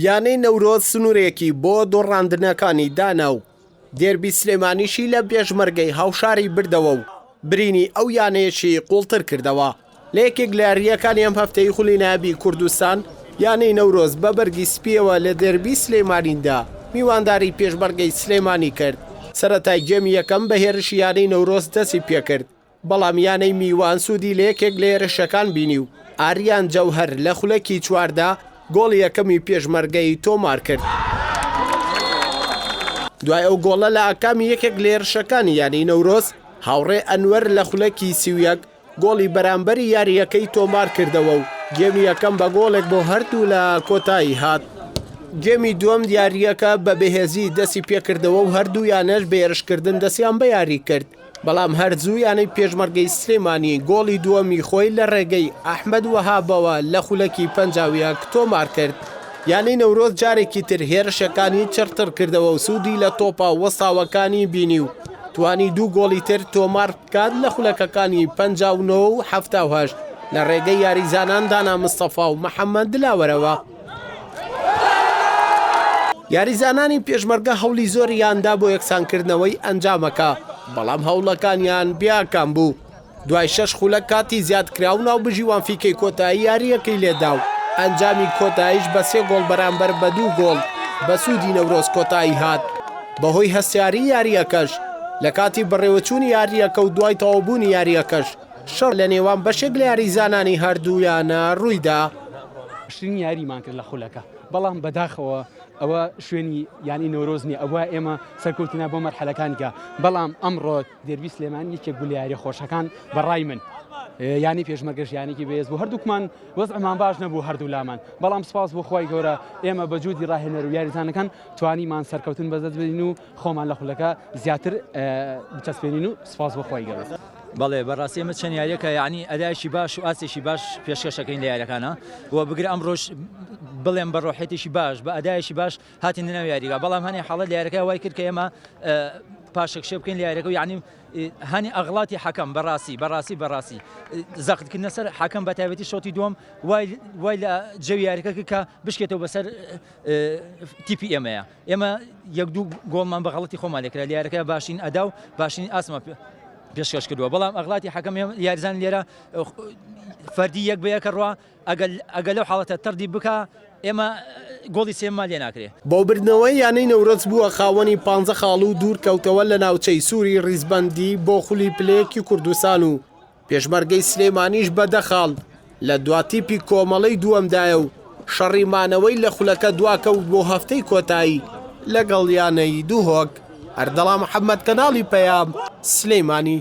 یانەی نەورۆز سنوورێکی بۆ دۆڕاندنەکانی دانا و دێربی سلێمانیشی لە بێژمەرگەی هاوشاری بردەوە و برینی ئەو یانەیەشی قوڵتر کردەوە لە یەکێک لە یارییەکانی ئەم هەفتەی خولی نابی کوردستان یانەی نەورۆز بە بەرگی سپیەوە لە دێربی سلێمانیدا میوانداری پێشمەرگەی سلێمانی کرد سەرەتای گێمی یەکەم بە هێرشی یانەی نەورۆز دەستی پێکرد بەڵام یانەی میوان سوودی لە یەکێک لە هێرشەکان بینی و ئاریان جەوهەر لە خولەکی چواردا گۆڵی یەکەمی پێشمەرگەی تۆمارکرد. دوای ئەو گۆڵە لە ئاکامی یەکێک لە هێرشەکانی یانەی نەورۆز، هاوڕێ ئەنوەر لە خولەکی سی و یەک گۆڵی بەرامبەری یارییەکەی تۆمارکردەوە و گێمی یەکەم بە گۆڵێک بۆ هەردوولا کۆتایی هات. گێمی دووەم یارییەکە بە بەهێزی دەستیپێکردەوە و هەردوو یانەش بە هێرشکردن دەستیان بە یاری کرد. بەڵام هەر زوو یانەی پێشمەرگەی سلێمانی گۆڵی دووەمی خۆی لە رێگەی ئەحمەد وەهابەوە لە خولەکی پەنجا و یەک تۆمارکرد، یانەی نەورۆز جارێکی تر هێرشەکانی چڕترکردەوە و سوودی لە تۆپە وەستاوەکانی بینی و توانی دوو گۆڵی تر تۆماربکات لە خولەکەکانی پەنجا و نۆ و حەفتا و هەشت لە رێگەی یاریزانان دانا مستەفا و محەمەد دلاوەرەوە. یاریزانانی پێشمەرگە هەوڵی زۆریاندا بۆ یەکسانکردنەوەی ئەنجامەکە، بەڵام هەوڵەکانیان بیاکام بوو. دوای شەش خولە کاتی زیادکراو ناوبژیوان فیکەی کۆتایی یارییەکەی لێدا و ئەنجامی کۆتاییش بە سێ گۆڵ بەرامبەر بە دوو گۆڵ بە سوودی نەورۆز کۆتایی هات. بەهۆی هەستیاری یارییەکەش لە کاتی بەڕێوەچوونی یارییەکە و دوای تەواوبوونی یارییەکەش، شەڕ لە نێوان بەشێک لە یاریزانانی هەردوویانە روویدا. باشترین یاریمان کرد لە خولەکە، بەڵام بەداخەوە ئەوە شوێنی یانەی نەورۆز نییە، ئەبوایە ئێمە سەرکەوتنە بۆ مەرحەلەکانی کە، بەڵام ئەمڕۆ دێربی سلێمانی یەکێک بوو لە یارییە خۆشەکان بەڕای من، یانەی پێشمەرگەش یانێکی بەهێز بوو، هەردووکمان وەزعمان باش نەبوو هەردوولامان، بەڵام سوپاس بۆ خوای گەورە ئێمە بە جوودی راهێنەر و یاریزانەکان توانیمان سەرکەوتن بەدەست بێنین و خۆمان لە خولەکە زیاتر بچەسپێنین و سوپاس بۆ خوای گەورە. بەڵێ بەڕاستی ئەمە چەند یاریەکە یعنی ئەدایشی باش و ئاسێکی باش پێشکەشەکەین لە یاریەکانە و بگر ئەم ڕۆژ بڵێم بە ڕۆحێتێکی باش بە ئەدایشی باش هاتین ناو یاریگا بەڵام هەنێ حاڵە لە یارەکە وای کرد کە ئێمە پاشەکشێ بکەین لە یارەکە یعنی هەنی ئەغڵاتی حەکەم بەڕاستی بەڕاستی بەڕاستی زەختکردە سەر حەکەم بە تایبەتی شۆتی دوم وای لە جەوی یاریەکە کە بشکێتەوە بەسەر تیپی ئێمەیە ئێمە یەک دوو گۆڵمان بە غەڵەتی خۆمان لێ کرا، لە یاریەکەدا باشترین ئەدا و باشترین ئاستمان پێشکەش کردووە، بەڵام ئەغڵاتی حەکەم یاریزان لێرە فەردی یەک بە یەکە ڕوا، ئەگەر لەو حاڵەتە تەڕدی بکا ئێمە گۆڵی سێیەممان لێ ناکرێ. بەوبردنەوەی یانەی نەورەز بووە خاوەنی پانزە خاڵ و دوورکەوتەوە لە ناوچەی سووری ڕیزبەندی بۆ خولی پلەیەکی کوردستان و، پێشمەرگەی سلێمانیش بە دە خاڵ لە دوا تیپی کۆمەڵەی دووەمدایە و شەڕی مانەوەی لە خولەکە دوا کەوت بۆ هەفتەی کۆتایی لەگەڵ یانەی دهۆک. ئەردەڵا محەمەد کەناڵی پەیام، سلێمانی.